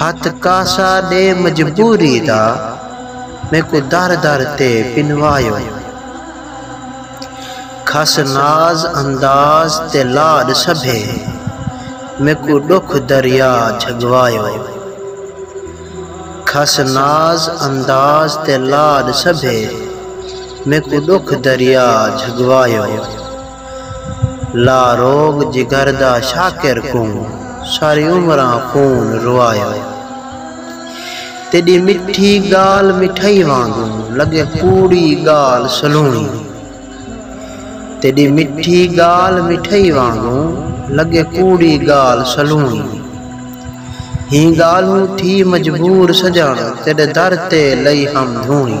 ہتھ کاسا ݙے مجبوری دا میکوں در در تے پنواہیو کھس ناز انداز تے لاݙ سبھے میکوں ݙکھ دریا جھڳواہیو کھس ناز انداز تے لاݙ سبھے میکوں ݙکھ دریا جھڳواہیو۔ لا روگ جگر دا شاکر کوں ساری عمراں خون روایا تیݙی مٹھی ڳالھ مٹھائی وانگوں لڳے کوڑی ڳالھ سلوݨی تیݙی مٹھی ڳالھ مٹھائی وانگوں لڳے کوڑی ڳالھ سلوݨی ہیں ڳالھوں تھی مجبور سڄݨ تیݙے در تے لئی ہم دھوݨی۔